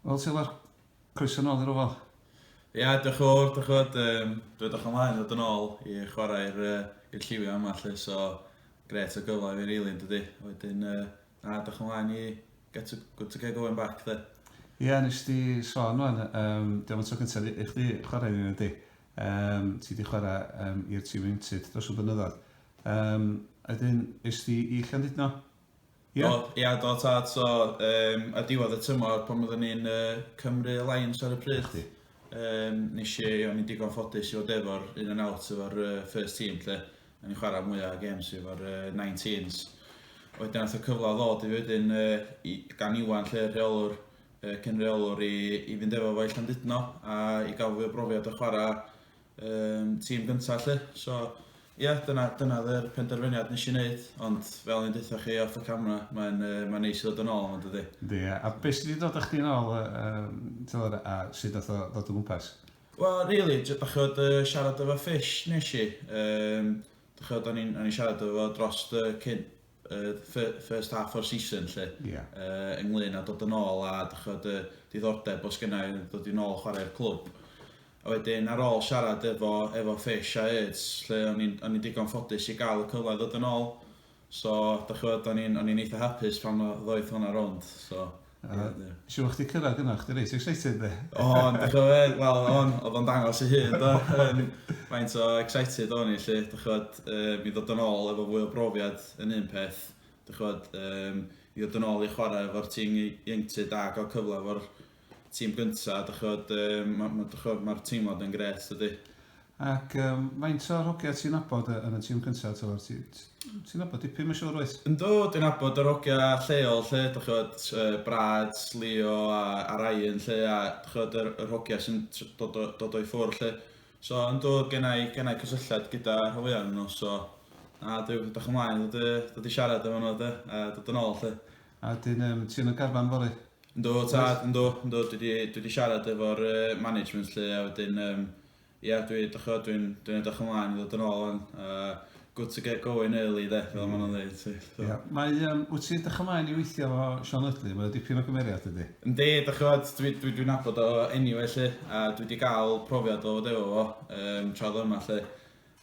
Wel, Silar, croeso nôl i'r ofal. Ia, yeah, diolch yn fawr, diolch yn fawr. Um, Dwi'n edrych ymlaen ddod yn ôl i chwarae i'r uh, lliwio yma, lle, so gret o gyfle fi'n rili, yn dydy. Wedyn, uh, na, diolch ymlaen i get a good to get going back, dde. Ie, yeah, nes di sôn o'n, um, diolch yn tro cyntaf i chdi chwarae ni, ydy. Um, ti di chwarae um, i'r tîm iwntud dros y blynyddoedd. Yym, a wedyn es di i Llandudno? Ia? Do, ia, do tad, so yym ar diwedd y tymor pan oeddwn ni'n yy Cymru Alliance ar y pryd... 'Na chdi. ...yym nes i, o'n i'n digon ffodus i fod efo'r in and out efo'r yy first team 'lly, o'n i'n chwarae mwya' o gêms efo'r yy 19s. Wedyn ath y cyfle ddod i fi wedyn yy i gan Iwan 'lly y rheolwr yy cyn-reolwr i i fynd efo fo i Llandudno a i ga'l fwy o brofiad o chwara' Yym, tîm gynta 'lly. So, ia, dyna dyna oedd yr penderfyniad nes i wneud, ond fel o'n i'n deutha chi off y camera, mae'n yy mae'n neis i ddod yn ôl yma dydi? Yndi, ia. A be' sy' 'di dod â chdi nôl yy yym t'mod a sut nath o ddod o gwmpas? Wel, rili, j- dach ch'od yy siarad efo Fish nes i, yym dach ch'od o'n i'n o'n i'n siarad efo fo drost yy cyn first half o'r season lle, yeah. uh, ynglyn a dod yn ôl a dychod y diddordeb os gyna i ddod i'n ôl chwarae'r clwb. A wedyn ar ôl siarad efo, efo Fish a Erds, lle o'n i'n digon ffodus i gael y cyfle ddod yn ôl, so dychod o'n i'n eitha hapus pan ddoeth hwnna rownd. So. Ia, do. Siŵr o'ch chdi cyrraedd gyna, o'ch chdi reit excited de? O'n, dych ch'mod, wel, o'n, o'dd o'n dangos ei hun do? Yym, faint o excited o'n i 'lly, dych ch'mod, yym, i ddod yn ôl efo fwy o brofiad yn un peth, dych ch'mod, yym, i ddod yn ôl i chwarae efo'r tîm i- ieuenctid a ga'l cyfle efo'r tîm gynta, dych ch'mod, yym, ma', ma', dych ch'mod, ma'r teimlad yn grêt, dydi? Ac yym faint o'r hogia ti'n nabod yn y tîm cynta t'mod ti ti'n nabod dipyn ma'n siŵr wyt? Yndw dwi'n nabod yr hogia lleol 'lly dach ch'mod yy Brad, Leo a a Ryan 'lly a dach ch'mod yr yr hogia sy'n tr- dod o dod o'i ffwr' 'lly. So yndw gennai gennai cysylltiad gyda rhan fwya o'nyn nw so na dwi edrych ymlaen i ddod i ddod i siarad efo nw 'de a dod yn ôl 'lly. A wedyn yym ti yn y garfan fory? Yndw tad, yndw, yndw, dwi 'di dwi 'di siarad efo'r yy management 'lly a wedyn yym ia dwi dych ch'mod dwi'n dwi'n edrych ymlaen i ddod yn ôl ŵan a good to get going early 'de fel ma' nhw'n ddeud 'lly so... Ia, mae yym wyt ti'n edrych ymlaen i weithio efo Siôn Ydley? Mae o dipyn o gymeriad dydi? Yndi, dych ch'mod dwi dwi dwi'n nabod o eniwe 'lly a dwi 'di ga'l profiad o fod efo fo yym tra o'dd o yma 'lly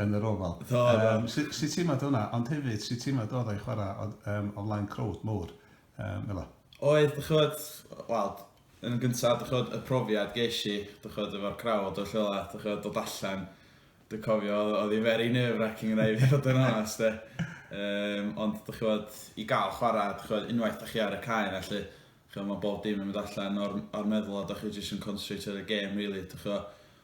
yn yr ofal. Do, do. Yym, su- sut ti'n meddwl hwnna? Ond hefyd, sut ti'n meddwl oedd o'i chwarae o, um, o flaen crowd mowr, um, fel o? Oedd, dych chwyd, wel, yn y gyntaf, dych chwyd, y profiad gesh i, dych chwyd, efo'r crowd o'r lle dych chwyd, dod allan, dwi'n cofio, oedd hi'n very nerve-wracking yn ei fod yn onest, de. Um, ond, dych chwyd, i gael chwarae, dych chwyd, unwaith dych chi ar y cae na, lle, chwyd, mae bob dim yn mynd allan o'r, or meddwl, a dych chi jyst yn concentrate ar y game, really, dych chwyd,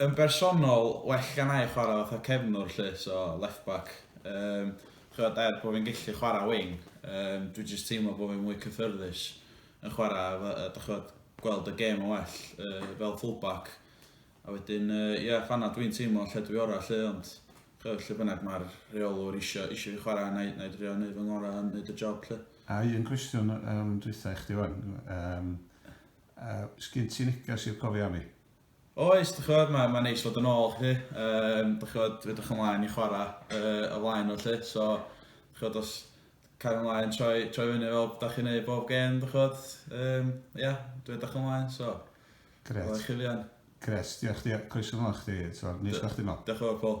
Yn bersonol, well genna i chwarae fatha cefnwr 'lly, so left back. Yym, chibod, er bod fi'n gallu chwarae wing, yym, dwi jyst teimlo bod fi'n mwy cyffyrddus yn chwarae, efo, yy, dach chibod, gweld y gêm yn well, yy, fel full-back. A wedyn, yy, ie, fan'na dwi'n teimlo lle dwi orau 'lly, ond, chibod, lle bynnag mae'r rheolwr isio, isio fi chwarae, wna i, wna i drio wneud fy ngorau a wneud y job 'lly. A un cwestiwn, yym, dwytha i chdi 'wan, yym, yy, sgin ti neges i'r cofiannu? Oes, dych chibod, mae, mae'n neis fod yn ôl, chi. Um, dych chibod, dwi edrych ymlaen i chwarae uh, y flaen o, lle. So, dych chibod, os cael ymlaen troi, troi fyny fel da chi'n ei bob gen, dych chibod, um, yeah, dwi edrych ymlaen, so. Gret. O'r chifian. Gret, diolch chdi, coesio ymlaen chdi, so, nis gwach chdi mol. Diolch o'r Paul.